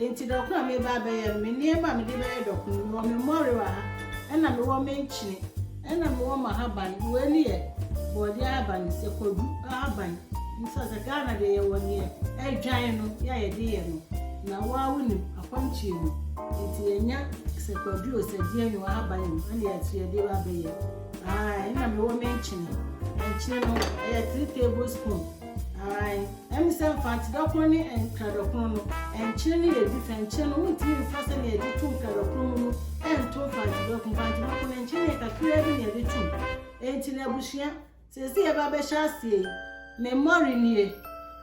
Enti dɔko a mereba abɛyɛ no, me nneɛma a mede bɛyɛ dɔko no, mewɔ me mmɔre wɔ ha, ɛnna mewɔ me nkyene, ɛnna mewɔ m'ahaban. Wei no yɛ borɔdeɛ ahaban, sɛ kwadu ahaban nso a, sɛ Ghana deɛ yɛwɔ deɛ adwan no, yɛ a yɛde yɛ no. Na wo ara wonim, akwantuo mu nti yɛnya sɛ kwadu o, sɛ deɛn o, ahaban o, ɛnna yɛn nso yɛde ba abɛyɛ. Ae, ɛnna mewɔ me nkyene. Nkyene no, ɛyɛ three tablespoon. Ae, ɛne sɛ mfantedakron ne nkradakron no, nkyene no yɛ different. Nkyene no, wontumi mfa sɛnea yɛde to nkradakron mu no nto mfantedakron. Mfantedakron no, nkyene no yɛ kakraa bi na yɛde tom. Enti no, abusua, seesei yɛba abɛhyɛ aseɛ yi, me mmɔre nie,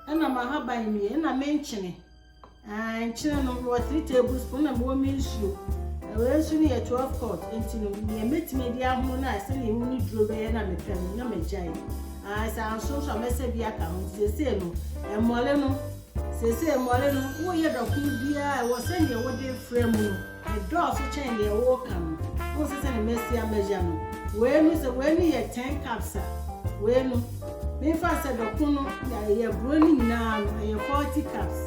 ɛna m'ahaban nie, ɛna me nkyene. Ankyɛre no, mewɔ three tablespoon na mewɔ me nsuo. Ɛwɔ nsuo no yɛ twelve quart nti no, nea mɛtumi adi ahono no a sɛdeɛ ewu ne duro bɛyɛ na mepɛ no na magyae. Ae sɛ anso nso a mɛsɛ bi aka ho nti seesei no, mmɔre no, seesei mmɔre no, woyɛ dɔko biara ɛwɔ sɛdeɛ wode frɛ mu no. Ɛdɔɔso kyɛn nea woka no. Wohu sɛ sɛnea masi amɛgya no, wei no sɛ wei no yɛ ten cups a, wei no, memfa no sɛ dɔko no, yɛ aburo no nyinaa no, ɛyɛ forty cups.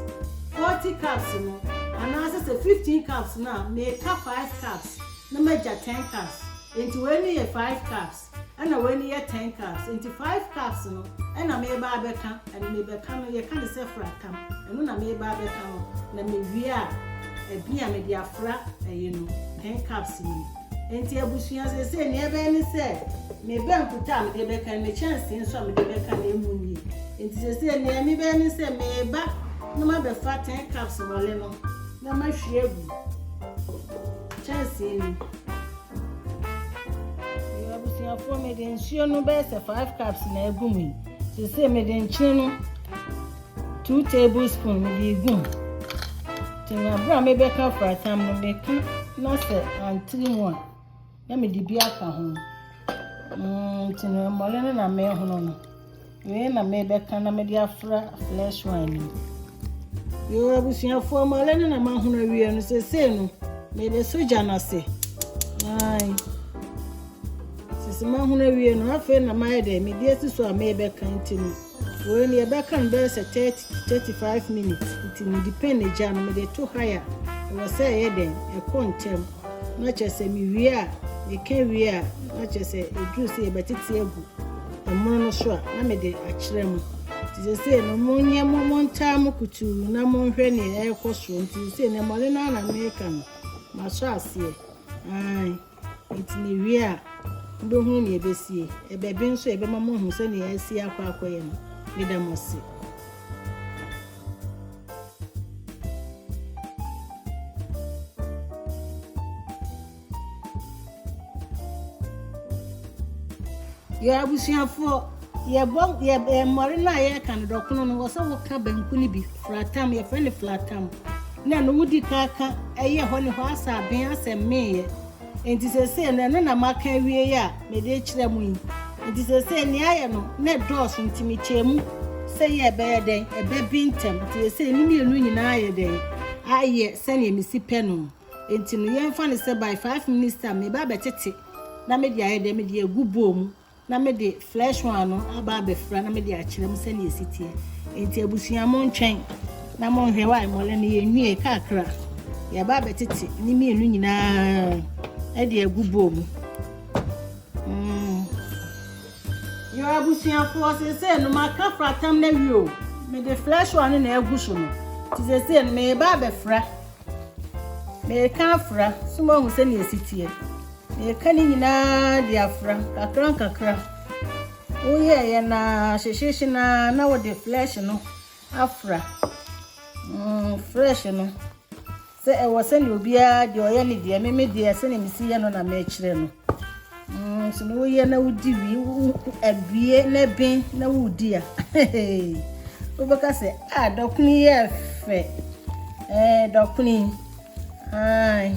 Forty cups no, anaasɛ sɛ fifteen cups no a, meka five cups na magya ten cups. Enti wei no yɛ five cups. Ɛna wei no yɛ ten cups nti five cups no ɛna meba abɛka ɛno mebɛka no yɛka no sɛ fra tam ɛno na meba abɛka no na mewie a ɛbi a mede afra ɛyi no ten cups ni nti abusua sese nea ɛbɛyɛ ne sɛ me bankuta a mede bɛka no me kyɛnsee nso a mede bɛka no ɛmu nie nti sese nea mebɛyɛ ne sɛ meba na mabɛfa ten cups wɔle no na mahwie agu kyɛnsee ni Abusuafoɔ mede nsuo no bɛyɛ sɛ five cups na egu mu yi sese mede nkyene no two tablespoon mede egu mu tena abere a mebɛka fratam no meka na sɛ antiri mu a na mede bi aka ho mm, nti no mmɔre no na mehono no Wei na mebɛka na mede afra flesh wine no mu. Yoo abusuafoɔ mo alɛ no na mahono awie no sesei no mebɛsɔ gya no ase. Ae. Sisi mahono awie no afei na mayɛ dɛ mede asi so a mebɛka nti no. Wei no yɛbɛka no bɛyɛ sɛ 30 Thirty five minutes nti mede pen gya no mede to high a ɛwɔ sɛ ɛyɛ dɛn ɛkɔ ntɛm na kyerɛ sɛ mewie a meka wie a na kyerɛ sɛ ɛduru sɛ yɛbɛtete agu ɛmono no so a na mede akyerɛ mo nti sesei no monyɛ mo montaa mo kutuu na monhwɛ neɛ ɛrekɔ soɔ nti sesei no mmɔne no ara na mereka no masɔ aseɛ ae Enti na ewie a, mobɛhunu nea ɛbɛsie. Ɛbɛben nso a, ɛbɛma moahu sɛnea asi akɔ akɔyɛ no. Meda mo ase. Yɔ abusuafoɔ. Yɛbɔ yɛ ɛɛ mmɔre no a yɛreka no dɔkono no, wɔ sɛ woka banku no bi, fratam, yɛfrɛ no flatam, na ɛno wodi kan ka ɛyɛ hɔ ne hɔ asɛ aben asɛ mmeeɛ. Enti seesei no, ɛno na maka awie yi a mede rekyerɛ mo yi. Enti seesei nea ayɛ no, na ɛdɔɔso nti mekyɛɛ mu sɛ yɛ ɛbɛyɛ dɛn, ɛbɛben ntɛm. Enti seesei ne mmienu nyinaa ayɛ dɛn, ayɛ sɛnea mesi pɛ no. Enti no, yɛmfa no sɛ by five minutes time, meba abɛtete na mede ayɛ dɛn, mede agu bowl mu. Na me de flesh one no aba abɛfira na me de akyerɛ mo sɛnea ɛsi teɛ. Enti abusua mo ntwɛn na mo nhwɛ wa mmɔlɛ no yɛn nwie kakra. Yɛba abɛtete ne mmienu nyinaa ɛde agu bowl mu. Mm. Yɛ abusuafoɔ sese no maka fratam na wie o. Me de flesh one no na ɛgu so no. Ti sese no me ba abɛfira. Mereka afra, so moahu sɛnea esi teɛ? Mereka ne nyinaa de afra, nkakrankakra. Woyɛɛ yɛn naa, hyehyehye naa, na wode flesh no afra. Mm, fresh no. Sɛ ɛwɔ sɛnea obiara deɛ ɔyɛ ne deɛ, me me deɛ sɛnea mesi yɛ no na mekyerɛ no. Mm sɛ mo yɛ na wodi wie abie na ben na wodi a wobɛka sɛ a dɔkono yɛ fɛ ɛɛ dɔkono yi ae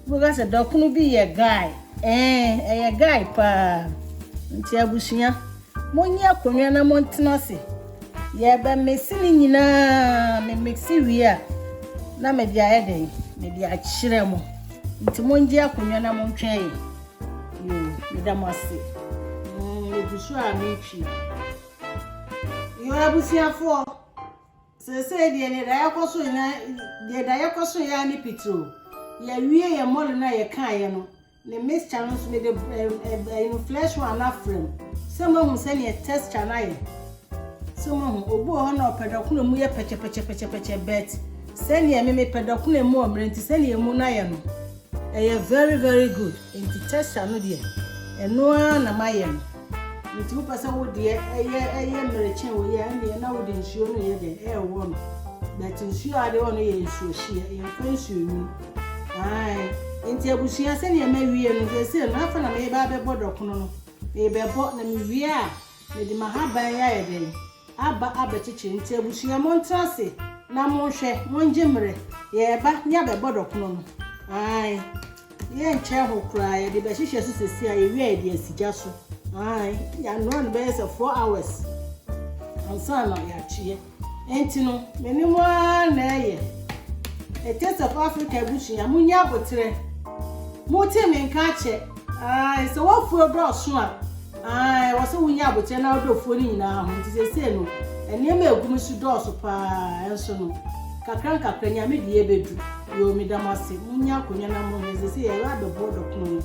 wobɛka sɛ dɔkono bi yɛ guy ɛɛ ɛyɛ guy paa nti abusua. Monyi akonnwa na montena ase. Yɛreba mixi ne nyinaa, me mixi wie a, na mede ayɛ dɛn? Mede akyerɛ mo. Nti mongye akonnwa na montwɛn yɛ. Yo, meda mo ase. Mm, megu so a metwi. Yo, abusuafoɔ, seesei deɛ deɛ da yɛkɔ so nyinaa, deɛ da yɛkɔ so yɛ ne pitiro. Yɛawie yɛ mɔle no a yɛkaeɛ no, Ne mixture no nso, mede ɛɛ flesh one no afra mu sɛ moahu sɛdeɛ texture no ayɛ. So moahu? Obi wɔ hɔ na ɔpɛ dɔkono a emu yɛ pɛkyɛpɛkyɛpɛkyɛpɛkyɛ but sɛdeɛ me mepɛ dɔkono a emu wɔ mmerɛ nti sɛdeɛ emu no ayɛ no, ɛyɛ very very good. Nti texture no deɛ, ɛno ara na mayɛ no. Nti wopɛ sɛ wo deɛ ɛyɛ ɛyɛ mmerekyɛn wei a, ɛnneɛ na wode nsuo no reyɛ dɛn? Rewɔ no. But nsuo a wode wɔ no yɛ nsuohyeɛ, yɛmfa nsuonwunu. Aane, enti abusua, sɛdeɛ mawie no, seesei no, afei na mereba abɛbɔ dɔkono no. Merebɛbɔ, na mewie a, mede m'ahaban yi ayɛ dɛn? Aba abɛkyekyere. Enti abusua, montena ase na monhwɛ, mongye mmerɛ. Yɛreba ne abɛbɔ dɔkono no. Aane, yɛnkyɛɛ ho koraa, yɛde bɛhyehyɛ so seesei a, yɛwie a yɛde asi gya so. Aane, yɛanoa no bɛyɛ sɛ four hours ansa na yɛakyeɛ. Enti no, me ne mo ara na ɛyɛ. A Taste of Africa abusua, munyi aboterɛ. Mote me nka akyɛ. Ae, sɛ w'afuo dɔɔso a, ae, ɛwɔ sɛ wonyi aboterɛ na wodɔ afuo no nyinaa ho. Nti seesei no, nneɛma a ɛgu me so dɔɔso pa ara, nso no, nkakrankakra, Nyame deɛ ɛbɛdu. Yoo, meda mo ase. Monnya akonnwa na monhwɛ. Seesei yɛreba abɛboa dɔkono no.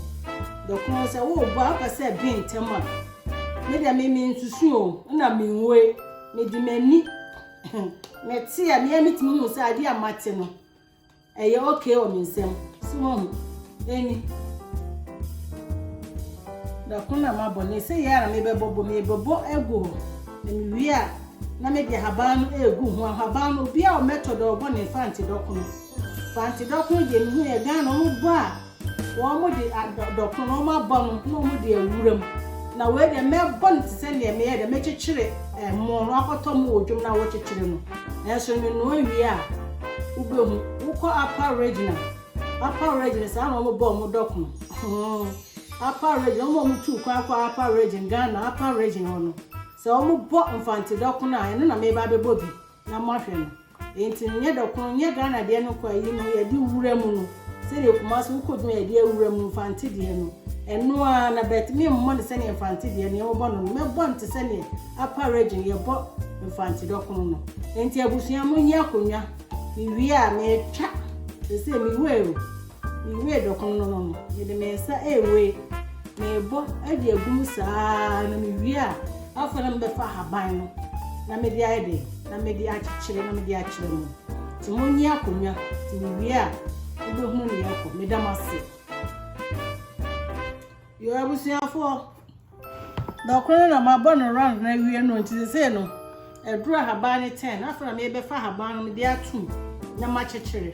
Dɔkono, sɛ woreboa a, wopɛ sɛ ɛben ntɛm a, me deɛ me, mensusu o, nna menwue. Mede m'ani mete a mea metumi hu sɛ adeɛ a mate no ɛyɛ okay wɔ me nsam so mahu ɛni dako na mabɔ ne sɛ yɛ ara mebɛbɔ bɔ mebɛbɔ agu hɔ na mewie a na mede ahaban no ɛgu ho ahaban no obi a ɔmɛtɔ dɛ ɔbɔ ne fante dɔkono fante dɔkono deɛ mehu yɛ Ghana ɔmobɔ a Wɔde adɔko na wɔabɔ no na wɔde awura mu. Na wei deɛ mɛbɔ no te sɛ deɛ meyɛ dɛ, mɛkyekyere ɛmo no akɔtɔ mo wɔ dwom no a wɔkyekyere no. Nanso menoa wie a, wobɛhu. Wokɔ Upper Regional, Upper Region, saa na wɔbɔ wɔn dɔko. Upper Region, wɔn a wɔtuu kwan kɔɔ Upper Region, Ghana Upper Region hɔ no, sɛ wɔbɔ Mfantse dɔko a, ɛno na mereba abɛbɔ bi. na moahwɛ no enti no nyɛ dɔkono nyɛ Ghana deɛ no kwa yi no yɛde wura mu no sɛdeɛ Kumasi wokɔ dwuma yɛde awura mu mfante deɛ no ɛno ara na bɛt me mmɔ no sɛdeɛ mfante deɛ no yɛmobɔ no no mɛbɔ no te sɛdeɛ apa regye no yɛbɔ mfante dɔkono no enti abusua mo nyɛ akonnwa mewie a metwa sɛ sɛ me wei o Miwiee dɔkono no no, mede me nsa rewe, merebɔ de agu mu saa ara na mewie a, afei na mebɛfa ahaban no na mede ayɛ dɛn? Na mede akyekyere na mede akyerɛ mo. Nti monnye akonnwa, nti mewie a, mobɛhunu nea ɛrekɔ. Meda mo ase. Yoo abusuafoɔ. Na ɔkoro no na mabɔ no round no awie no nti sesei no ɛduru ahaban no ten afei na mebɛfa ahaban no mede atum na makyekyere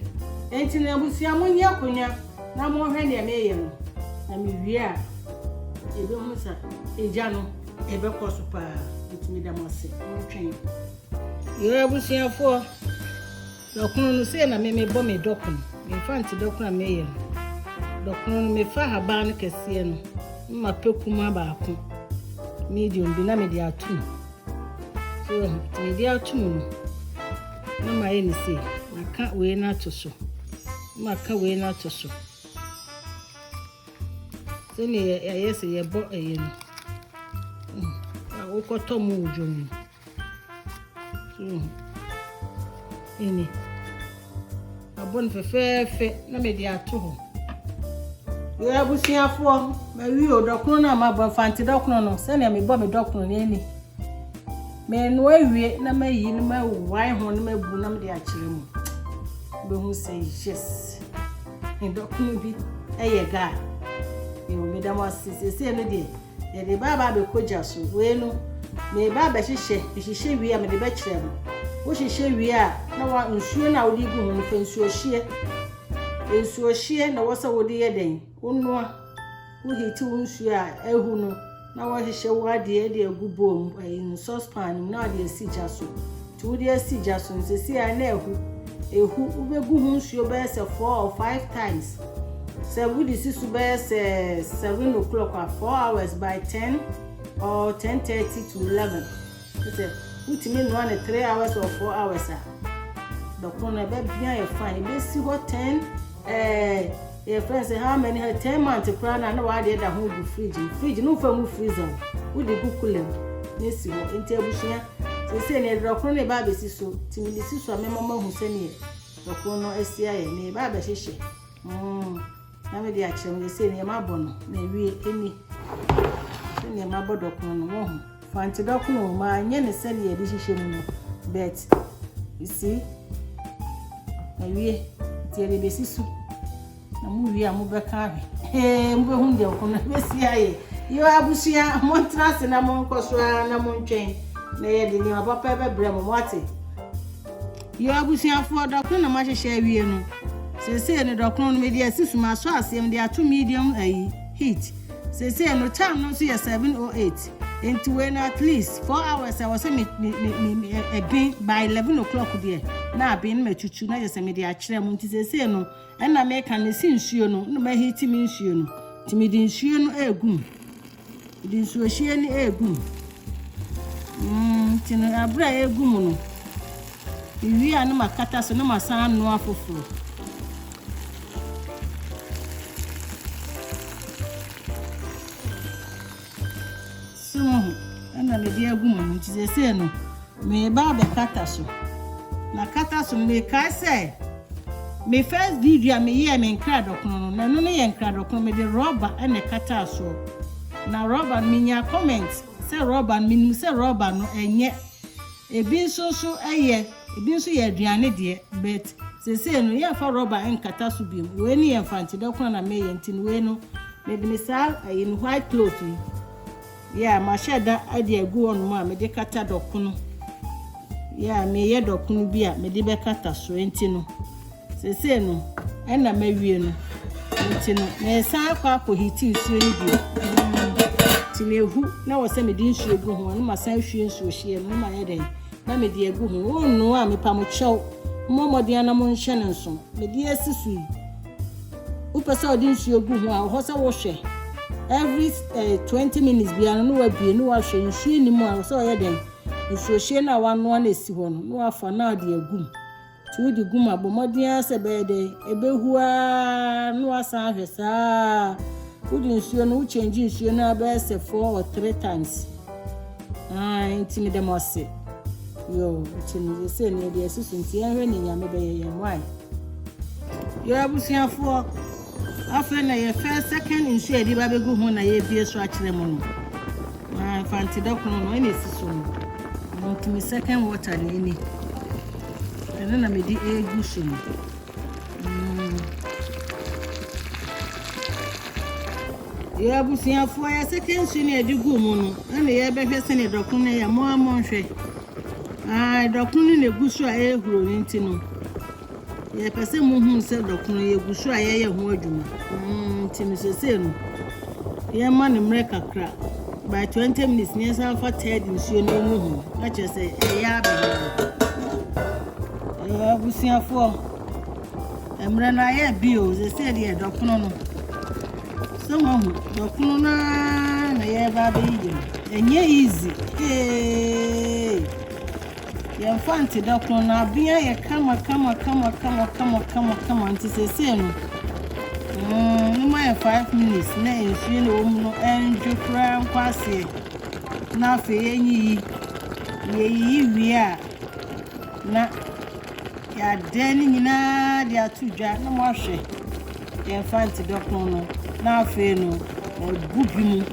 nti na abusua mo nyɛ akonnwa na mo hwɛ nea meyɛ no na mewie a ebe ho sa egya no ebe kɔ so paa nti meda mo ase mo twɛn yɛ abusuafoɔ Dɔkono no, sei na me mebɔ me dɔkono, memfa nte dɔkono a meyɛ no. Dɔkono no, mefa ahaban no kɛseɛ no, mma pɛ kumaa baako, medium bi, na mede ato mu. So wahu? Nti mede ato mu no, na mayɛ ne sei, maka wei no ato so, maka wei no ato so. Sɛnea yɛyɛ sɛ yɛbɔ ɛyɛ no, wokɔtɔ mu wɔ dwom no. Ɛni, mabɔ no fɛfɛɛfɛ na mede ato hɔ. Yɛ abusuafoɔ, mawi o dɔkono no a mabɔ mfante dɔkono no sɛnea mebɔ me dɔkono no ɛni. Menoa awie na mayi na mawae ho na mabu na mede akyerɛ mu. Bɛhu sɛ yes, me dɔkono bi ɛyɛ gaa. Yɛ o meda mo ase seesei no deɛ. Yɛde ne ba aba abɛkɔ gya so. Wei no, mereba abɛhyehyɛ. Mehyehyɛ wie a, mede bɛkyerɛ mo. Wohyehyɛ wie a, na wa nsuo no a wode gu ho no, fa nsuohyeɛ. Nsuohyeɛ na ɛwɔ sɛ wode yɛ dɛn? Wonoa. Wohiti wo nsuo a ahu no, na woahyehyɛ wo adeɛ de agu bowl mu, ɛyi no, saucepan no mu, na wode asi gya so. Nti wode asi gya so no sesei a na ahu, ɛhu, wobɛgu ho nsuo bɛyɛ sɛ four or five times, sɛ wode si so bɛyɛ sɛ seven o'clock a, four hours by ten or ten thirty to eleven, kyerɛ sɛ wotumi noa no three hours or four hours a, bɛko no ɛbɛbene ayɛ fine, ɛbɛsi hɔ ten, eh, Yɛfrɛ no sɛ how many her ten month koraa no a na w'adeɛ da ho gu fridge mu fridge no nfa ngu freezer mu wode gu cooler mu na esi hɔ nti abusua seesei no yɛde dɔkono no reba abɛsi so nti mede si so a mɛma moahu sɛdeɛ dɔkono no asi ayɛ na yɛba abɛhyehyɛ mm na mede akyerɛ mo yɛsei no yɛmabɔ no na awie ɛni sɛdeɛ mabɔ dɔkono no mohu Fa nti dɔko no ma anyɛ ne sɛdeɛ yɛde hyehyɛ mu no but you see awie nti yɛde bɛsi so na mo wie a mobɛka ahwɛ ee mobɛhu deɛ ɔko no bɛsi ayɛ yɛ abusua montena ase na monkɔ so ara na montwɛn na yɛde nneɛma papa bɛbrɛ mo moate Yo abusuafoɔ, dɔ kron na mo ahyehyɛ awie no. Seesei no dɔ kron no mede asi so, masɔ aseɛ, mede ato medium ayi, heat. Seesei no time no nso yɛ 7:08, enti wei no at least four hours a ɛwɔ sɛ me, me, me, me, me ɛ, ɛben, by 11 o'clock deɛ, na aben na matutu na kyerɛ sɛ mede akyerɛ mo. Nti seesei no, ɛna meka no, mesi nsuo no, na maheati me nsuo no, nti mede nsuo no ɛregu mu. Wɔde nsuohyeɛ no regu mu. Nti no berɛ a ɛregu mu no, mewie a na makata so na masan anoa foforɔ. So mo ho ɛna mede agu mu no nti sɛsei no. Mereba abɛkata so. Makata so no, mekae sɛ me first video a meyɛɛ me nkradɔkono no, na ɛno no yɛ nkradɔkono, mede rɔba na ɛkataa soɔ. Na rɔba no, menyaa comment sɛ rɔba no, menim sɛ rɔba no ɛnyɛ. Ebi nso nso ɛyɛ, ebi nso yɛ aduane deɛ, but seesei no yɛmfa rɔba nkata so biom. Wei no yɛ mfantidɔkono na meyɛ, nti no wei no mede me saa ɛyi no white cloth yi. Yeah, mahyɛ da de agu hɔnom a mede kata dɔkono. Yeah, meyɛ dɔkono bi a mede bɛkata so. Enti no, sesei no, ɛna mawie no. Enti no, meresan akɔ akɔhiti nsuo no bio. Nti na ehu na wɔ sɛ mede nsuo gu ho a, na masan ahwie nsuo hyia no, na mayɛ dɛn? Na mede agu ho. Wonnoa a, mepa mo kyɛw. Mmɔ mmɔden na monhyɛ no nso. Mede asi so yi. Wopɛ sɛ ɔde nsuo gu ho a, ɔhɔ sɛ wohwɛ. Every eh, 20 minutes biara no, na wabie, na wahwɛ nsuo nni mu a, ɔsɛ ɔyɛ dɛn? Nsuohyɛ no a wanoa na ɛsi hɔ no, na wafa na ɔde agum. Nti wode gum a, bɔ mmɔden ara sɛ ɛbɛyɛ dɛn? Ɛbɛhu ara na wasan ahwɛ saa. Wode nsuo no, wokyɛngye nsuo no abɛyɛ sɛ four or three times. Aane nti meda mo ase. Yoo, ɛkyɛ no sɛ ne ɛde ɛsusu nti yɛnhwɛ ne nyame bɛyɛ yɛn wae. Yoo abusuafoɔ, afei na yɛ first second nsuo a yɛde ba bɛgu ho na yɛbie so akyerɛ mo no. Na mfante dɔkono no ɛna ɛsi so no. Ɛno nti me second water na ɛni. Ɛno na mede ɛgu so no. Yɛ abusuafoɔ yɛ second nsuo no yɛde guu mu no ɛna yɛbɛhwɛ sɛ ne dɔko no yɛ mo a mo nhwɛ aa dɔko no na egu so a ɛhuro no nti no yɛpɛ sɛ mo hu sɛ dɔko no yɛgu so a yɛyɛ ho adwuma mm, nti no sesei no Yɛma no mmerɛ kakra, by twenty minutes na yɛnsan fa third nsuo no ngu ho, na kyerɛ sɛ ɛyɛ abene no. Ɛɛ abusuafoɔ, mmerɛ no ayɛ bi o, sɛsɛ deɛ dɔkono no. Sɛ moahu, dɔkono no ara na yɛreba abɛyiyi no. Ɛnyɛ easy, ee. Yɛmfa nte da koro no aben ayɛ kama kama kama kama kama kama kama nti sesei no mm moma yɛ five minutes na nsuo na ɛwɔ mu no ɛndwo koraa nkɔ aseɛ na afei yɛnyiyi yɛyiyi wie a na yɛadɛn ne nyinaa de ato dwa na moahwɛ Yɛmfa nte dɔko no, na afei no mabu bi mu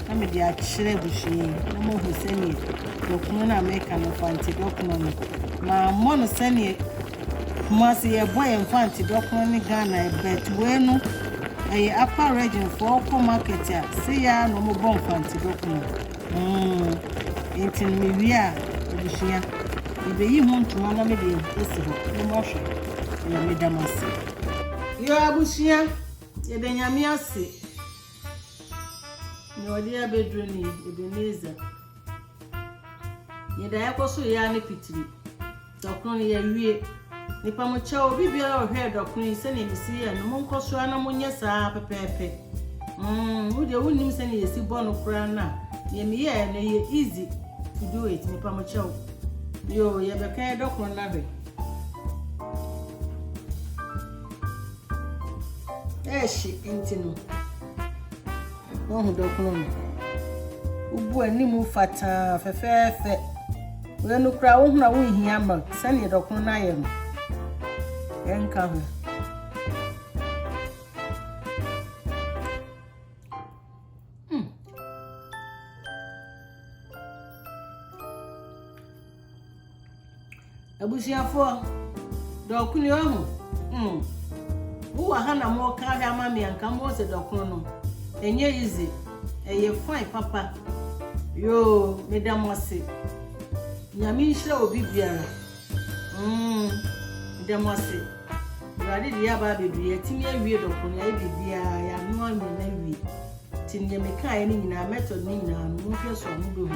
na mede akyerɛ abusua yi na moahu sɛdeɛ dɔko no a meka no, fa nte dɔko no, mammɔ no sɛdeɛ Kumasi yɛbɔ yɛn fa nte dɔko no ne Ghana but wei no ɛyɛ upper region foɔ wokɔ market a se yɛ ara na wɔbɔ nfa nte dɔko no. Aane, nti no me wie a abusua me bɛyi ho ntoma na me de asi hɔ mo mo hwɛ na me da mo ase. Yoo abusua yɛda nyame ase nea ɔde yɛ abɛduru ni Ebenezer yɛda yɛkɔ so yɛ a ne pitiri. Dɔkono no yɛawie. Mepa mo kyɛw, obi biara a ɔhwɛɛ dɔkono yi sɛnea mesi yɛɛ no, monkɔ so ara na monyɛ saa ara pɛpɛɛpɛ. Mm, wo deɛ wonnim sɛnea yɛsi bɔ no koraa na deɛ meyɛɛ no yɛ easy to do it. Mepa mo kyɛw. Yo, yɛbɛka yɛ dɔkono no ahwɛ. Ɛhye nti no. Woahu dɔkono no? Wobu w'anim fataa fɛfɛɛfɛ. Wei no koraa wohunu a wonhia milk sɛnea dɔkono no ayɛ no. Ɛnka ho. Abusuafoɔ, dɔko ni ɔho. Mm. Wowɔ ha na mo ka ahwɛ ama me anka mo sɛ dɔko no. Enye easy. Eye fine papa. Yo, me da mo ase. Nyame nhyira obi biara. Mm. Me da mo ase. Awurade de yaba abedu ya timi awie dɔko no ya ebi bia ya no anwe na wie. Ti ne me ka ye ne nyina method ne nyina no mo hwɛ so amubehu.